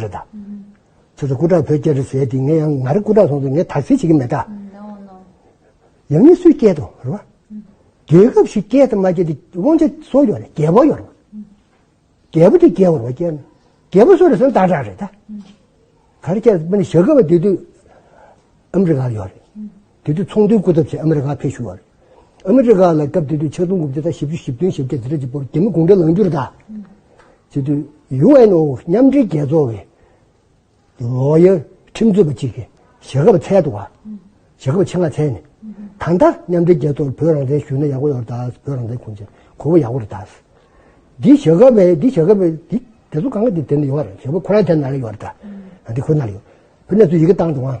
རེད་ད། ཚོད་ཚོད་སྐུ་དྲག་བོད་སྐྱེ་རེད་ཟེར་དེ་ངས་ཡང་ང་རེད་སྐུ་དྲག་སོང་དུས་ངས་དག་སེལ་བྱེད་ཀྱི་མེད་ད། ཡང་ངས་སུས་སྐྱེད་དོ་རེད་བ། རྒྱལ་ཁབ་ཞིག་སྐྱེད་དང་མ་སྐྱེད་དེ་དབང་ཆ་སོ་ཡོད་རེད་རྒྱལ་པོ་ཡོད་རེད་བ། རྒྱལ་པོ་དེ་རྒྱལ་བོར་བ་སྐྱེད་ན་རྒྱལ་པོ་སོ་རེད་ཟེར་ན་དག་དྲག་རེད་ད། ག་རེ་སྐྱེད་མིན་ཞག་གི་བ་དེ་དུས་ཨམ་རི་ག་ཡོད་རེད། དེ་དུས་ཚོང་དོན་སྐུལ་ཐབས་ཆེད་ཨ་མེ་རི་ཁར་ཕེབས་བཞུགས་པ་རེད། ཨ་མེ་རི་ཁ་ལ་སྐབས་དེ་དུས་ཆིག་སྟོང་དགུ་བརྒྱ་དང་བཞི་བཅུ་བཞི་བདུན་ཞེ་བརྒྱད་ཟེར་གྲས་ཀྱི་བོར་རྒྱ་མི་དགོངས་འགྲེལ་ལངས་རྒྱུར་གདའ། དེ་དུས་ཡུ་ཨེན་ཨོ་མཉམ་འབྲེལ་རྒྱལ་ཚོགས་ཀྱི་ལོ་ཡར་ཁྲིམས་རྩོད་པ་གཅིག་གིས་ཞེ་ཁ་བ་ཚལ་དུ་བ། ཞེ་ཁ་བ་ཆེ་ནག་ཚལ་ནས། ད་ལྟ་མཉམ་འབྲེལ་རྒྱལ་ཚོགས་ལ་བོད་རང་བཙན་ཞུས་ན་ཡག་པོ་ཡོང་བར་གདའ། བོད་རང་བཙན་ཁུངས་ཅན་གོ་བོ་ཡག་པོ་རེད་གདའ། འདི་ཞེ་ཁ་བས་འདི་ཞེ་ཁ་བས་འདི་དེ་ཚོ་གང་གི་དེ་ནས་ཡོང་བ་རེད་ཞེ་ཁོ་རང་གི་དེ་ནང་ལ་ཡོང་བ་རེད་གདའ། འདི་ཁོ་ནང་ལ་ཡོད། བོད་ནས་ཚོ་ཡི་གེ་བཏང་འདུག་ཨང།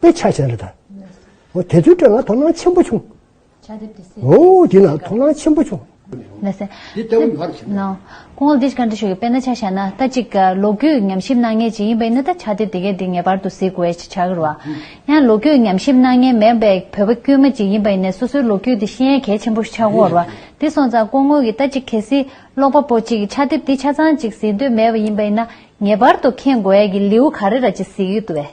དཔེ་ཆ་བྱས་རེད་ད། ཨོ་དེ་ཚོའི་སྐྲ་ལ་དོ་སྣང་ཆེན་པོ་བྱུང། ཨོ་དེ་ལ་དོ་སྣང་ཆེན་པོ་བྱུང། ཁོང་ལ་འདི་ཅི་ག་འདྲི་ཞུ་གི་དཔེ་ན་ཆ་བྱས་ན་ད་ཅིག་ལོ་རྒྱུས་ཉམས་ཞིབ་གནང་མཁན་ཅིག་ཡིན་པ་ཡིན་ན་ད་ཆ་དེ་དེ་གས་དེ་ངེས་པར་དུ་གཟིགས་དགོས་ཅིག་བྱ་གི་རུ་ཨ། ཡང་ལོ་རྒྱུས་ཉམས་ཞིབ་གནང་མཁན་མེད་པའི་བོད་པ་དཀྱུས་མ་ཅིག་ཡིན་པ་ཡིན་ན་སོ་སོའི་ལོ་རྒྱུས་དེ་ཤེས་ཡན་གལ་ཆེན་པོ་ཞིག་ཆགས་དགོས་རུ་ཨ། དེ་སོང་ཙང་ཁོང་ངོས་ཀྱི་ད་ཅིག་གལ་སྲིད་ཀློག་པ་པོ་ཅིག་གིས་ཆ་དེབ་དེ་ཆ་ཚང་ཅིག་གཟིགས་འདོད་མེད་པ་ཡིན་པ་ཡིན་ན་ངེས་པར་དུ་མཁྱེན་དགོས་ཡས་ཀྱི་ལེའུ་ག་རེ་ར་ཅིག་གཟིགས་ཡོད་དུ་ཨེ།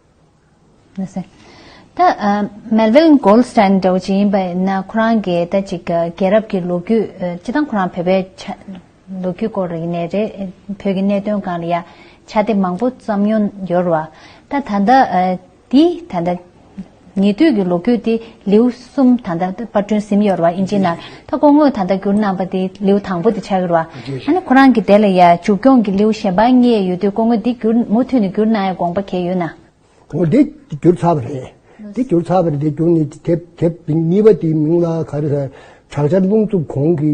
ད། Melvin Goldstein འདྲ་བོ་ཅིག་ཡིན་པ་ཡིན་ན་ཁོ་རང་གི་ད་ཅིག་རྒྱལ་རབས་ཀྱི་ལོ་རྒྱུས་སྤྱི་དང་ཁོ་རང་བོད་པའི་ལོ་རྒྱུས་སྐོར་ཡིན་ནའི་རེད། བོད་ཀྱི་གནད་དོན་གང་ལ་ཡང་ཕྱག་དེབ་མང་པོ་བརྩམས་མྱོང་ཡོད་རེད་བ། ད་ད་ལྟ་འདི་ད་ལྟ་ཉེ་དུས་ཀྱི་ལོ་རྒྱུས་དེ་ལེའུ། གསུམ། ད་ལྟ་དཔར་སྐྲུན་ཟིན་ཡོད་ར་ཨིན་ཇི་ནར་ད་སྐོང་དངོས་ད་ལྟ་བསྒྱུར་གནང་བ་དེ་ལེའུ་དང་པོ་དེ་ཆགས་ཡོད་ར་ཨ་ནི་ཁོ་རང་གི་དེ་ལ་ཡ་འཇུག་སྐྱོང་གི་ལེའུ་གཞན་པ་གཉིས་ཡོད་དུས་སྐོང་དངོས་འདི་བསྒྱུར་མུ་མཐུད་ནས་བསྒྱུར་གནང་ཡ་དགོངས་པ་གལ་ཡོད་ན། གོང་འདི་བསྒྱུར་ཚར་བ་རེད་འདི་བསྒྱུར་ཚར་བ་རེད་འདི་བསྒྱུར་ནས་དེབ་གཉིས་པ་དེའི་མིང་ལ་ག་རེ་ཟེར་དྲག་ཆར་རླུང་འཚུབ་གོང་གི་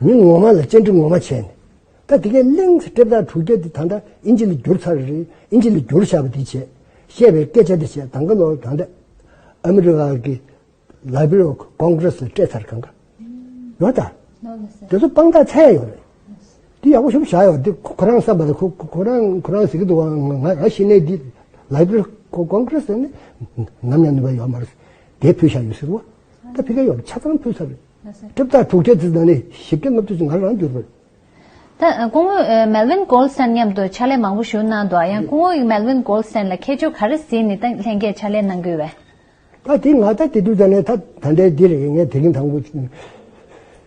མི་ངོ་མ་ལ་སྤྱན་འདྲེན་ངོ་མ་བྱས་ནས། ད་དེ་གའི་གླིང་ཚེ་སྒྲིབ་དག་དྲུག་བརྒྱ་འདི་ད་ལྟ་ཨིན་ཇི་ལ་བསྒྱུར་ཚར་རེད་ཨིན་ཇི་ལ་བསྒྱུར་བཞག་པ་འདི་བྱས། བཤད་པའི་སྐད་ཆ་འདི་བྱས་དང་ག་ལོག་དང་འདྲ། ཨ་མི་རི་ཀ་གི་ལ་བི་རོ་ཀོང་ཀྲེ་སི་ལ་སྤྲད་ཚར་གང་ག་ཡོད་ད། དེ་ཚོ་དཔང་རྟགས་ཚད་ཡོད་རེད། འདི་ཡག་པོ་ཞུ་བཞག་ཡོད་འདི་ཁོ་རང་བསམ་པ་ལ་ཁོ་ཁོ་རང་ཁོ་རང་ཟེར་གི་འདུག་ང་ང་ཤི་ནས་འདི་ལ་བི་རོ་ཀོང་ཀྲེ་སི་ནི་ནམ་ཡང་ནུས་པ་ཡོད་མ་རེད་དེ་ཕུལ་བཞག་ཡོད་ཟེར་བ། ད་ཕི་ཀ་ཡོག་ཆ་ཚང་ཕུལ་ས་རེད། གྲིབ་བཏགས་དྲུག་ཁྲི་བརྩི་ད་ནི་ཞིབ་ཕྲའི་སློབ་དེབ་ང་རང་བསྒྱུར་པར། ད་སྐུ་ངོས་མེལ་ཝིན་གོལ་སན་མཉམ་དུ་ཕྱག་ལས་མང་པོ་ཞུ་གནང་འདུག་ཡང་སྐུ་ངོས་མེལ་ཝིན་གོལ་སན་ལ་ཁྱད་ཆོས་ག་རེ་ཟིན་ནི་ད་ལྷན་རྒྱས་ཕྱག་ལས་གནང་དགོས་བས། ད་དེ་ང་ད་དེ་དུས་ད་ནི་ད་ད་འདྲའི་འདི་རེད་ངས་དེ་རིང་ད་ངོས།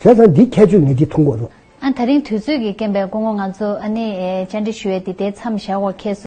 བྱས་ཙང་འདིའི་ཁྱད་ཆོས་ངེས་ཅན་མཐོང་དགོས་རོགས། ད་རིང་དུས་ཚོད་ཀྱིས་རྐྱེན་པས་སྐུ་ངོ་ང་ཚོ་ཨ་ནེ་བཅར་འདྲི་ཞུ་ཡས་འདི་ལྟའི་མཚམས་བཞག་འོག་ཁྱེད་སུ།